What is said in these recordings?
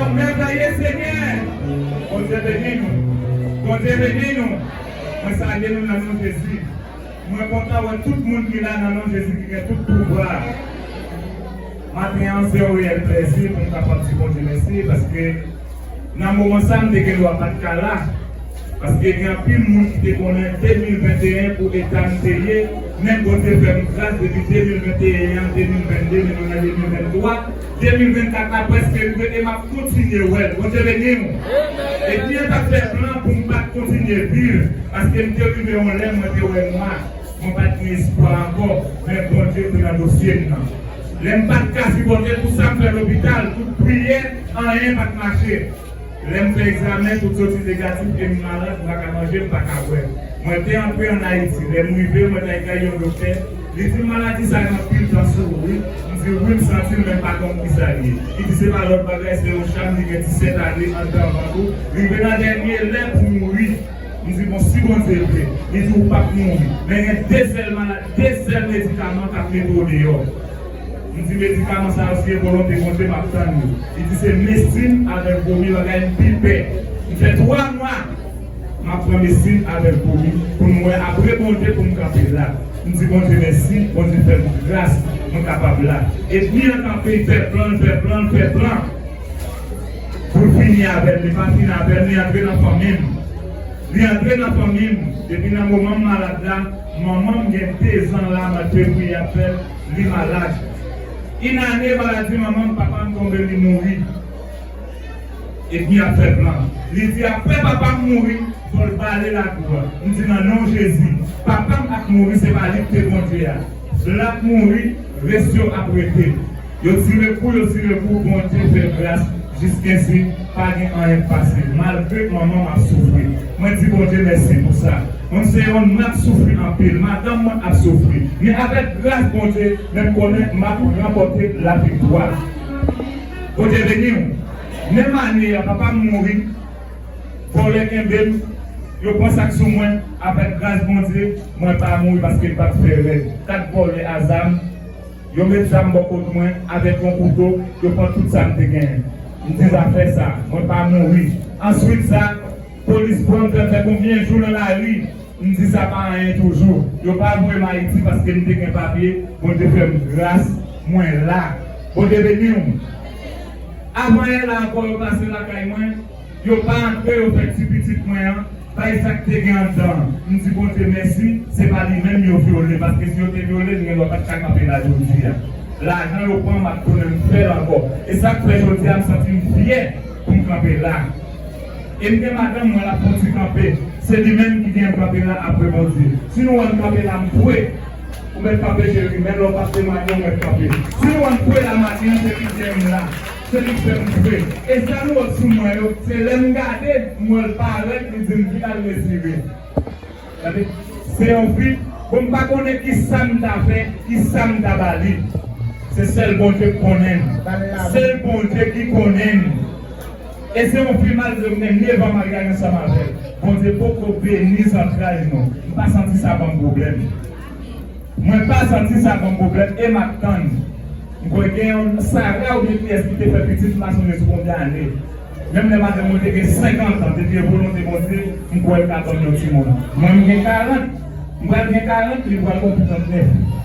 Wap mèvèye senyè. Bondye beni nou. Bondye beni nou mwen salye nou nan non jezi mwen kontan wè tout moun ki la nan non jezi ki gen tout pouvwa maten an se yon reyèl plèzi poum kapab di bondye mèsi paske nan moman sa m te gen dwa pat ka la paske gen anpil moun ki te konnen 2021 pou eta m te ye men bondye fèm gras depi 2021 an 2022 men nou nan 2023 2024 la preske rive e map kontinye wèl Bondye beni nou e byen tap fè plan poum pat kontinye viv paske m te rive yon lè mwen te wè nwa mwen pat gen espwa ankò men Bondye te nan dosye m nan lèm pat ka sipòte tout sam fè lopital tout priyè anyen pat mache. Lèm fè egzamen tout soti negatif em malad m paka manje m paka bwè. Mwen te antre an Ayiti lèm rive mwen tay kay yon doktè li dim maladi sa gen anpil tan sou ou wi m dil wi m santil menm pa konn kisal ye li di se pa lòt bagay se yon cham li gen 17 ane andan vant ou rive nan dènye lè pou mouri m di bon si Bondye vle li di ou pap mouri men gen 2 sèl maladi 2 sèl medikaman kap mete w deyò. M di medikaman sa yo si e volonte Bondye map tann yo. Li di se mestin avèk vomi langay m pi pè. M fè 3 mwa map pran mestin avèk vomi pou m wè apre Bondye pou m kanpe la. M di Bondye mèsi, Bondye fè m gras mwen kapab la. Edmi an kanpe li fè plan l fè plan l fè plan pou l fini avè m, li pa fini avè m li antre nan fanmi m. Li antre nan fanmi m depi nan moman m malad la, manman m gen 2 zan la map dwe priye ap fè l. li malad. Yn ane maladi manman m papa m tonbe li mouri epi yap fè plan li di aprè papa m mouri fò l bale lakou a m di nan non jezi papa m ak mouri se pa li k te kondwi a lap mouri res yo ap rete yo tire kou yo tire kou bondye fè gras jiskensi Pa gen anyen fasil malgre manman m ap soufri mwen di Bondye mèsi pou sa mwen m se yon n ap soufri anpil madanm mwen ap soufri men avèk gras Bondye men m konnen m ap ranpòte laviktwa Bondye beni w menm ane a papa m mouri vòlè kenbe m yo pran sak sou mwen avèk gras Bondye mwen pa mouri paske m pat fè règ 4 vòlè a zam. Yo met zam bò kot mwen avèk yon kouto, yo pran tout sa m te genyen. M di zafè sa, mwen pa mouri. Answit sa, polis pran m fè m fè konbyen jou nan lari. M di sa pa anyen toujou. Yo pa voye m Ayiti paske m te gen papye. Bondye fè m gras, mwen la. Bondye beni w. Avan yè la ankò yo pase lakay mwen. Yo pa antre yo fè ti pitit mwen an bay sak te gen andan an m di Bondye mèsi se pa li menm yo vyole paske si yo te vyole l gen dwa pat ka kanpe la jodi a lajan yo pran map tounen m fèl ankò e sak fè jodi a m santi m fyè pou m kanpe la e m gen madanm mwen lap fon ti kanpe se li menm ki genyen m kanpe la apre Bondye si nou wèm kanpe la m kwè. Ou mèt kanpe cheri menm lè ou pap temwanye ou mèt kanpe si nou wèm kwè la maten an se li ki genyen m la. Se li k fè m fre. E sa nou wè sou mwen yo. Se lè m gade mwen l pa rèd li di m ki la l retire. Gade se yon fi bon m pa konnen kisa m ta fè kisa m ta ba li. Se sèl Bondye k konnen m. Se l Bondye ki konnen m. E se yon fi malgre m gen 9 an maryaj ansanm avè l Bondye poko beni zantray nou. M pa santi sa ban m pwoblèm. Mwen pa santi sa banm pwoblèm e map tann m kwè gen yon Sara oubyen kiyès ki te fè pitit m pa sonje sou konbyen ane menm lè madanm mwen te gen 50 ans depi e volonte Bondye m kwè l ka banm yon timoun mwen m gen 40 m pral gen 40 li pral konpli 39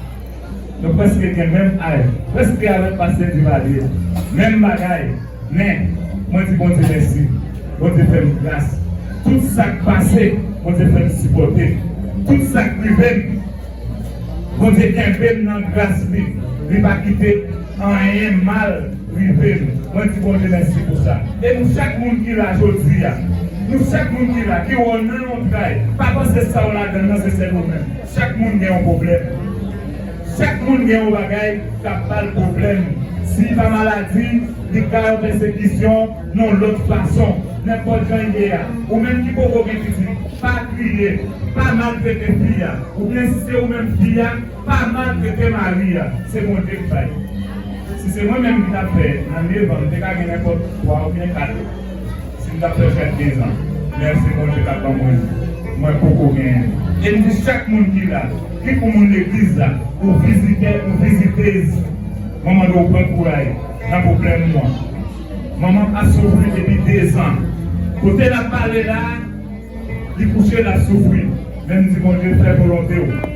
nou prèske gen menm aj prèske avèk pastè Duvalier menm bagay. Men, mwen di Bondye mèsi. Bondye fè m gras. Tout sa k pase, Bondye fè m sipòte. Tout sa k rive m, Bondye kenbe m nan gras li. Li pa kite anyen mal rive m. Mwen di Bondye mèsi pou sa. E nou chak moun ki la jodi a, nou chak moun ki la, ki wè w nan yon tray, pa panse sa w ladan l lan se sèl ou menm. Chak moun gen yon pwoblèm. Chak moun gen yon bagay kap bal pwoblèm, si pa maladi li ka yon pèsekisyon yon lòt fason, nenpòt jan l ye a. Ou menm ki poko gen pitit, pa kriye, pa maltrete fi a, oubyen si se ou menm fi a, pa maltrete mari a, se Bondye k bay. Si se mwen menm ki tap fè nan 9 an m te ka gen nenpòt 3 oubyen 4. Sim tap fè fèt 15 ans lè se Bondye kap ban mwen li mwen poko genyen li. Em di chak moun ki la, ni pou moun legliz la, ou vizitè ou vizitez mwen mande w pran kouray nan pwoblèm ou an. Manmanm ap soufri depi 2 zan. Kote lap pale la li kouche lap soufri men m di Bondye fè volonte w.